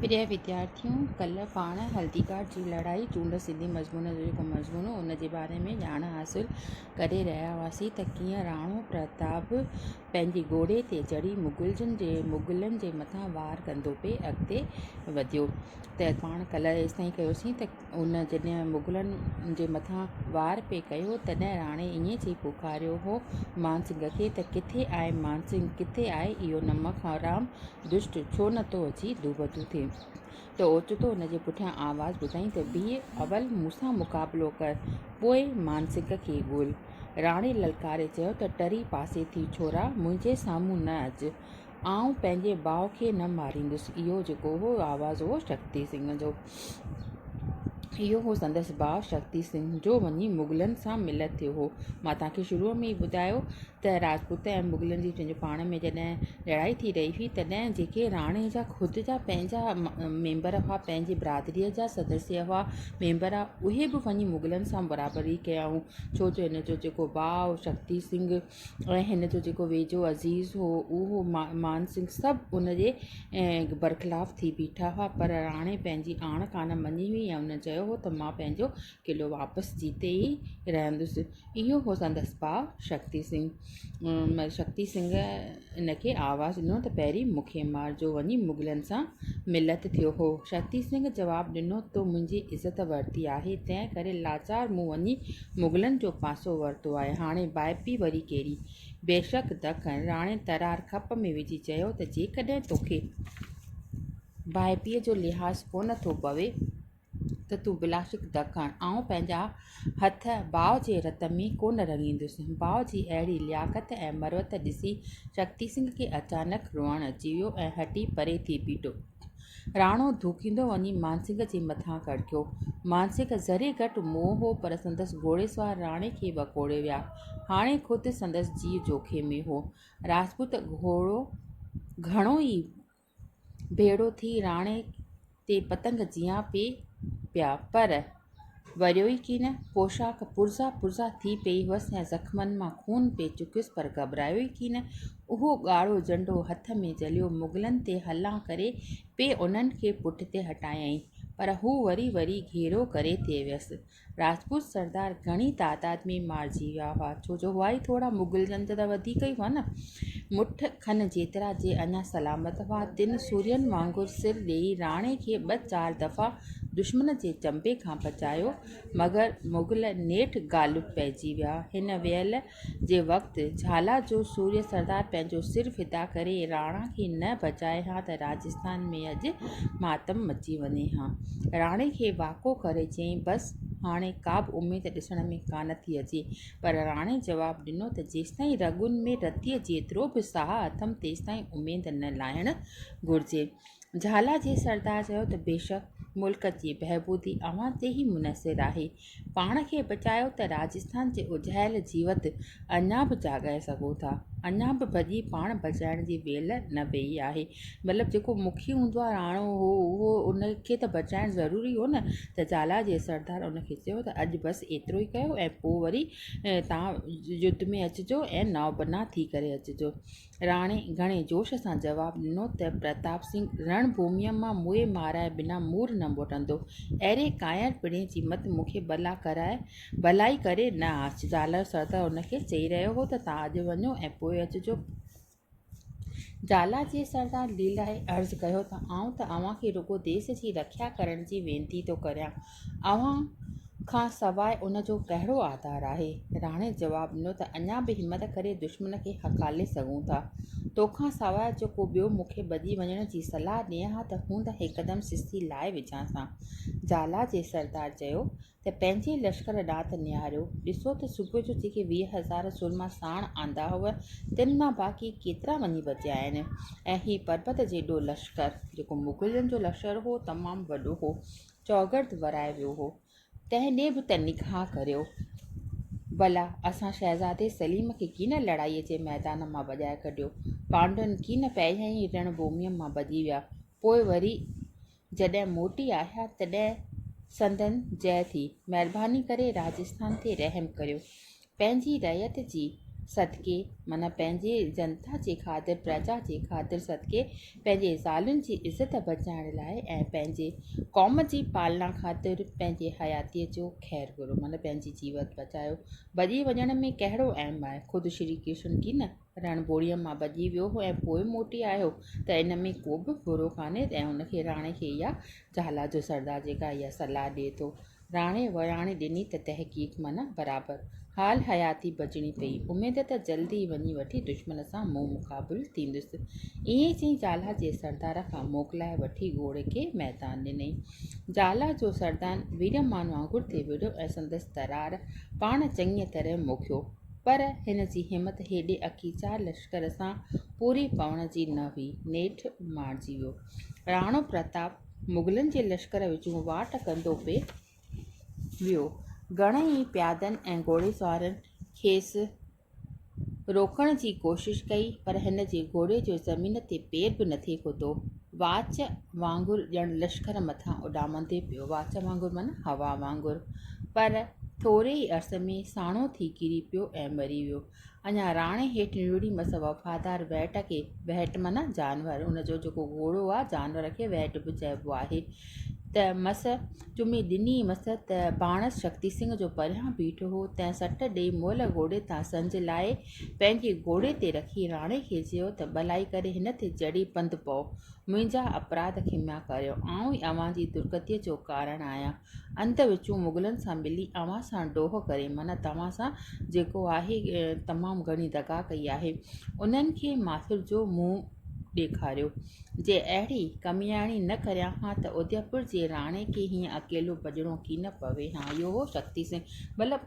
پريا وديارٿيون! ڪلهه پاڻ هلدي گهاٽ جي لڙائي چونڊ سنڌي مضمون جو جيڪو مضمون هو ان جي باري ۾ ڄاڻ حاصل ڪري رهيا هئاسين ته ڪيئن راڻو پرتاب پنهنجي گهوڙي تي چڙهي مغلن جي مغلن جي مٿان وار ڪندو پئي اڳتي وڌيو ته پاڻ ڪلهه ايستائين ڪيوسين ته هن جڏهن مغلن جي مٿان وار پئي ڪيو تڏهن راڻي ائين چئي پڪاريو هو مانسنگ کي ته ڪٿي آهي مانسنگ ڪٿي آهي اهو نمڪ حرام دشٽ ڇو نه ٿو اچي دوبدو ٿئي ته اوچتو هن جي پٺيان آواز ٻڌائين ته بيهه اول مون سان مقابلو ڪر پوء مانسنگ کي ڳول راڻي للڪاري چيو ته ٽري پاسي ٿي ڇورا منهنجي سامهون نه اچ آئون پنهنجي ڀاء کي نه ماريندس. اهو جيڪو هو آواز هو شڪتي سنگهه جو. اهو هو سندس ڀاء شڪتي سنگهه جو وڃي مغلن سان ملت ٿيو هو. مان توهان کي شروع ۾ ئي ٻڌايو ته راجپوت ۽ مغلن جي پنهنجي پاڻ ۾ جڏهن لڙائي ٿي رهي هئي تڏهن جيڪي راڻي جا خود جا پنهنجا ميمبر هئا پنهنجي برادريء جا سدسيه هئا ميمبر اهي به وڃي مغلن سان برابري ڪيائون ڇو جو هن جو جيڪو ڀاء شڪتي سنگهه ۽ هن جو جيڪو ويجهو عزيز هو اهو مان سنگهه سڀ ان جي برخلاف ٿي بيٺا هئا پر راڻي پنهنجي آڻ ڪانه مڃي هئي ۽ هن چيو هو ته مان پنهنجو قلعو واپس جيتي ئي رهندس اهو هو سندس ڀاء شڪتي سنگهه شڪتي سنگهه ان کي آواز ڏنو ته پهرين مون کي مار جو وڃي مغلن سان ملت ٿيو هو. شڪتي سنگهه جواب ڏنو تو منهنجي عزت ورتي آهي تنهن ڪري لاچار مون وڃي مغلن جو پاسو ورتو آهي هاڻي ڀائپي وري ڪهڙي؟ بيشڪ دکن راڻي ترار کپ ۾ وجهي چيو ته جيڪڏهن توکي ڀائپي جو لحاظ ڪونه ٿو پوي ته تون بلاشڪ ڌڪڻ، آئون پنهنجا هٿ باء جي رت ۾ ڪونه رڱيندس. باء جي اهڙي لياقت ۽ مروت ڏسي شڪتي سنگهه کي اچانڪ روئڻ اچي ويو ۽ هٽي پري ٿي بيٺو. راڻو ڌوڪيندو وڃي مانسنگهه جي مٿان ڪڙڪيو. مانسنگهه ذري گهٽ موء هو پر سندس گهوڙيسوار راڻي کي وڪوڙي ويا. هاڻي خود سندس جيء جوکي ۾ هو. راجپوت گهوڙو گهڻو ئي ڀيڙو ٿي راڻي تي پتنگ جيان پئي پيا، پر وريو ئي ڪين. پوشاڪ پرزا پرزا ٿي پئي هئس ۽ زخمن مان خون پئي چڪيس، پر گهٻرايو ئي ڪين. اهو ڳاڙهو جهنڊو هٿ ۾ جهليو مغلن تي حلان ڪري پئي انهن کي پٺتي هٽايائين، پر هو وري وري گهيرو ڪري ٿي ويس. راجپوت سردار گهڻي تعداد ۾ مارجي ويا هئا، ڇو جو هئا ئي ٿورا، مغل جن ته وڌيڪ ئي هئا نه. مٺ کن جيترا جي اڃا سلامت هئا، تن سورين وانگر سر ڏيئي راڻي کي ٻه چار دفعا دشمن جي چنبي کان بچايو، مگر مغل نيٺ غالب پئجي ويا. هن ويل جي وقت جهالا جو سوريو سردار پنهنجو سر فدا ڪري راڻا کي نه بچائي ها ته راجسٿان ۾ اڄ ماتم مچي وڃي ها. راڻي کي واڪو ڪري چيائين بس هاڻي ڪابه اميد ڏسڻ ۾ ڪانه ٿي اچي. پر راڻي جواب ڏنو ته جيستائين رڳن ۾ رتيء جيترو به ساهه اٿم تيستائين اميد نه لاهڻ گهرجي. جهالا جي سردار چيو ته بيشڪ ملڪ جي بهبودي اوهان تي ئي منحصر آهي. پاڻ کي بچايو ته راجسٿان جي اجهايل جيوت اڃا به جاڳائي سگهو ٿا. اڃا به ڀڄي پاڻ بچائڻ جي ويل نه ويئي آهي. مطلب جيڪو مکي هوندو آهي راڻو هو اهو ان کي ته بچائڻ ضروري هو نه ته جالا جي سردار ان کي چيو ته اڄ بس ايترو ئي ڪيو ۽ پوء وري تان يڌ ۾ اچجو ۽ نو بنا ٿي ڪري اچجو. راڻي گهڻي جوش سان جواب ڏنو ته پرتاب سنگهه رڻ ڀوميء مان موئي مارائي بنا مور نه موٽندو. اهڙي ڪانئر پڙهي جي مت مون کي بلا ڪرائي بلائي ڪري نه آچ. زالر سردار هن کي چئي رهيو هو ته توهان اڄ وڃو ۽ پوء اچجو. زالر جي سردار ليلائي عرض ڪيو ته آئون ته اوهان کي رڳو ديس جي رکيا ڪرڻ جي وينتي ٿو ڪريان. اوهان کان سواء ان جو ڪهڙو آڌار آهي؟ راڻي جواب ڏنو ته اڃا به همت ڪري دشمن کي هڪالي سگهون ٿا. تو کان سواء جو ڪو ٻيو مون کي ڀڄي وڃڻ جي صلاح ڏئي ها ته هوند هڪدم سستي لائي وجهانس ها. جالا جي سردار چيو ته پنهنجي لشڪر ڏانهن ته نهاريو، ڏسو ته صبح جو جيڪي ويهه هزار سورما ساڻ آندا هئو، تن مان باقي ڪيترا وڃي بچيا آهن ۽ هي پربت جيڏو لشڪر، جيڪو مغلن جو لشڪر هو، تمام وڏو هو. چوگرد ورايو ويو هو، تنهن ڏي به ته نگاهه ڪريو ڀلا، اسان شهزادي سليم کي ڪين لڙائيء جي ميدان مان ڀڄائي ڪڍيو، پانڊون ڪين پهريائين ئي رڻ ڀوميء مان ڀڄي ويا، پوء وري جڏهن موٽي آيا، تڏهن سندن جئه ٿي. مهرباني ڪري راجسٿان تي رحم ڪريو. پنهنجي رعيت جي صدقي معنيٰ پنهنجي جنتا جي خاطر، پرجا جي خاطر صدقي، پنهنجي زالن جي عزت بچائڻ لاء ۽ پنهنجي قوم جي پالنا خاطر پنهنجي حياتيء جو خير گهرو معنيٰ پنهنجي جيوت بچايو. ڀڄي وڃڻ ۾ ڪهڙو اهم آهي؟ خود شري ڪرشن ڪي نه؟ رڻ ٻوڙيء مان ڀڄي ويو هو ۽ پوء موٽي آيو هو ته ان ۾ ڪو به برو ڪانهي ۽ ان کي راڻي کي اها جهالا جو سردار جيڪا اها صلاح ڏئي ٿو. راڻي وياڻي ڏني ته تحقيق معنيٰ برابر. حال حياتي بچڻي پئي. اميد ته جلد ئي وڃي وٺي دشمن سان منهن مقابل ٿيندس. ائين چئي جهالا جي سردار کان موڪلائي وٺي گهوڙي کي ميدان ڏنئي. جهالا جو سردار ويرمان وانگر ٿي وڙهيو ۽ سندس ترار پاڻ چڱيء طرح موکيو. پر هن جي همت هيڏي اڪي چار لشڪر سان پوري پوڻ جي نه هئي. نيٺ مارجي ويو. راڻو پرتاب مغلن جي لشڪر وچون واٽ ڪندو پئي ويو. گهڻن ئي پيادن ۽ گهوڙيسوارن کيس روڪڻ جي ڪوشش ڪئي پر هن جي گهوڙي جو زمين تي پير به نٿي کتو. واچ وانگر ڄڻ لشڪر مٿان اڏامندي پيو، واچ وانگر معنيٰ هوا وانگر، پر ٿوري ئي عرصي ۾ ساڻو ٿي ڪري پيو ۽ مري ويو. اڃا راڻي هيٺ نڙي مس وفادار وهٽ کي، وهٽ معنيٰ جانور، ان جو جيڪو گهوڙو آهي، جانور کي وهٽ به چئبو آهي، ته مس چمي ڏني مس ته باڻس شڪتي سنگهه جو پريان بيٺو هو، تنهن سٽ ڏئي مئل گهوڙي تان سنج لاهي، پنهنجي گهوڙي تي رکي راڻي کي چيو ته ڀلائي ڪري هن تي چڙهي پنڌ پئو. منهنجا اپراڌ کميا ڪريو. آئون ئي اوهان جي درگتيء جو ڪارڻ آهيان. انڌ وچون مغلن سان ملي اوهان سان ڊوهه ڪري معنيٰ توهان سان جيڪو آهي تمام گهڻي دغا ڪئي آهي. انهن کي ماٿر جو منهن ڏيکاريو. جي اهڙي ڪمياڻي نه ڪريان ها ته اديپور جي راڻي کي هيئن اڪيلو ڀڄڻو ڪين پوي ها. اهو هو شڪتي سنگهه. مطلب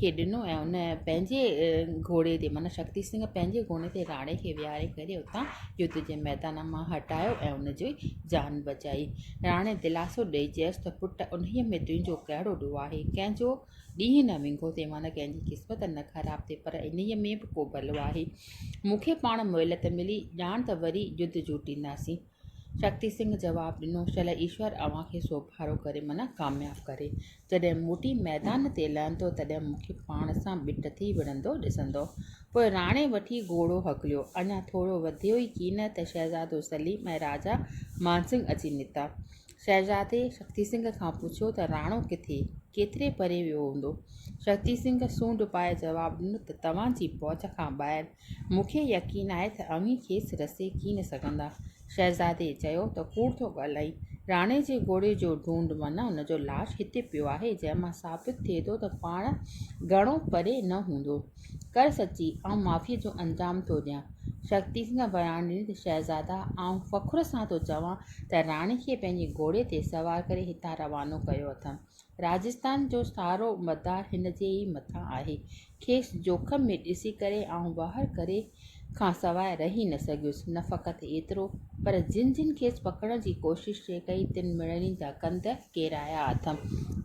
کي ڏنو ۽ ان پنهنجي گهوڙي تي معنيٰ شڪتي سنگهه پنهنجي گهوڙي تي راڻي کي ويهاري ڪري اتان يڌ جي ميدان مان هٽايو ۽ ان جي جان بچائي راڻي دلاسو ڏئي چيس ته پٽ انهيء ۾ تنهنجو ڪهڙو ڏوهه آهي ڪنهن جو ڏينهن نه وينگو ٿئي معنيٰ ڪنهن جي قسمت نه خراب ٿئي پر انهيء ۾ به ڪو ڀلو آهي مون کي پاڻ مهلت ملي ڄاڻ ته وري يڌ جوٽينداسين شڪتي سنگهه جواب ڏنو، شل ايشور اوهان کي سوڀارو ڪري من ڪامياب ڪري. جڏهن موٽي ميدان تي لهندو تڏهن مون کي پاڻ سان ٻٽ ٿي وڙهندو ڏسندو. پوء راڻي وٺي گهوڙو هڪليو. اڃا ٿورو وڌيو ئي ڪين ته شهزادو سليم ۽ راجا مانسنگهه اچي نڪتا. شهزادي شڪتي سنگهه کان پڇيو ته راڻو ڪٿي؟ ڪيتري پري ويو هوندو؟ شڪتي سنگهه سونڊ پائي جواب ڏنو ته توهان جي پهچ کان ٻاهر مون کي يقين آهي ته اوهين کيس رسي ڪي نه سگهندا. شهزادي چيو ته ڪوڙ ٿو ڳالهائين. راڻي جي گهوڙي جو ڍونڍ من ان جو لاش هتي پيو آهي جنهن مان ثابت ٿئي ٿو ته پاڻ گهڻو پري نه هوندو. ڪر سچي آئون معافيء جو انجام ٿو ڏيان. شڪتي سنگهه وياڻ ڏني ته شهزادا آئون فخر سان ٿو چوان ته راڻي کي پنهنجي گهوڙي تي سوار ڪري هتان روانو ڪيو اٿم. راجستان جو سارو مدار هن جي ئي مٿان آهي. کيس جوکم ۾ ڏسي ڪري آئون واهر ڪري کان سواء رهي نه سگهيس. نه فقط ايترو پر جن جن کيس پڪڙڻ جي ڪوشش ٿي ڪئي تن مڙني جا ڪنڌ ڪيرايا اٿم.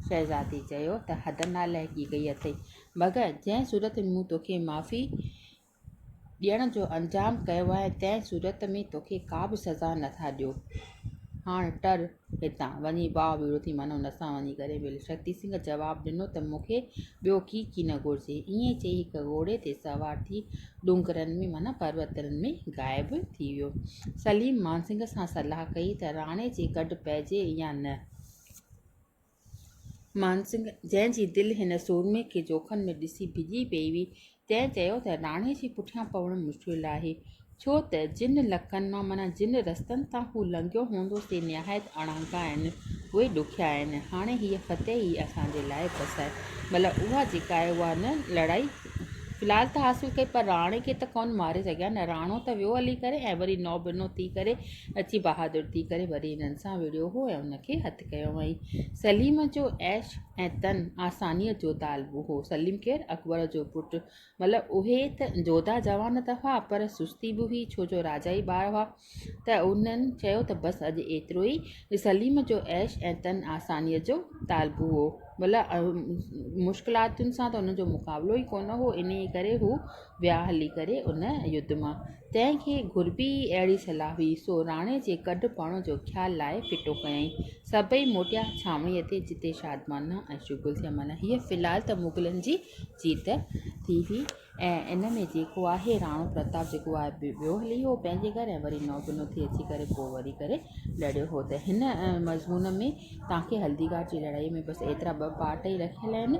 شهزادي چيو ته حد نالائقي ڪئي اٿئي مگر جنهن صورت ۾ مون توکي معافي ڏيڻ جو انتظام ڪيو آهي تنهن صورت ۾ توکي ڪا به سزا نه ٿا ڏيو. هاڻ ٽر هتان. وڃي باء ويڙهو ٿي مانو هن سان وڃي ڪري مل. شڪتي سنگهه جواب ڏنو ته مون کي ٻيو ڪي ڪي نه گهرجي. ائين چئي هڪ گهوڙي تي سوار ٿي ڏونگرن ۾ معنيٰ پروتن ۾ غائب ٿي ويو. سليم مانسنگهه سان صلاح ڪئي ته راڻي جي گڏ پئجي يا نه. مانسنگ، جنهن جي دل هن سورمي کي جوکن ۾ ڏسي ڊڄي پئي هئي، تنهن چيو ته راڻي جي پٺيان پوڻ مشڪل آهي، ڇو ته جن لڪن مان معنيٰ جن رستن تان هو لنگهيو هوندو سي نهايت اڻانگا آهن، اهي ڏکيا آهن، هاڻي هيء فتح ئي اسان جي لاء بس آهي، مطلب اها جيڪا آهي اها نه لڙائي في الحال ته حاصل ڪئي پر راڻي کي ته ڪونه ماري سگهيا نه، راڻو ته ويو هلي ڪري ۽ وري نو بنو ٿي ڪري اچي بهادر ٿي ڪري وري هنن سان وڙهيو هو ۽ هن کي هٿ ڪيو هئائين. سليم جو عيش ۽ تن آسانيء جو طالب هو. سليم ڪير؟ اڪبر جو پٽ. مطلب اهي ته جوڌا جوان ته هئا، پر سستي به هئي، ڇو جو راجائي ٻار هئا. ته انهن چيو ته بس اڄ ايترو ئي. سليم جو عيش ۽ تن آسانيء جو طالب هو. مطلب مشڪلاتن سان ته هن جو مقابلو ئي ڪونه هو، انهيء ڪري هو ويا هلي ڪري ان يڌ مان. تنهن کي گهربي ئي اهڙي صلاح هئي، سو راڻي جي ڪڍ پاڻو جو خيال لائي ڦٽو ڪيائين. سڀئي موٽيا ڇانوڻيء تي، جتي شادمانا ۽ شغل ٿيا. معنيٰ هيء في الحال ته مغلن جي جيت ٿي هئي ۽ ان ۾ جيڪو آهي، راڻو پرتاب جيڪو آهي، ويو هلي هو پنهنجي گهر ۽ وري نو بنو ٿي اچي ڪري پوء وري ڪري لڙيو هو ته هن مضمون ۾ توهان کي هلدي گهاٽ جي لڙائيء ۾ بس ايترا ٻه پارٽ ئي رکيل آهن.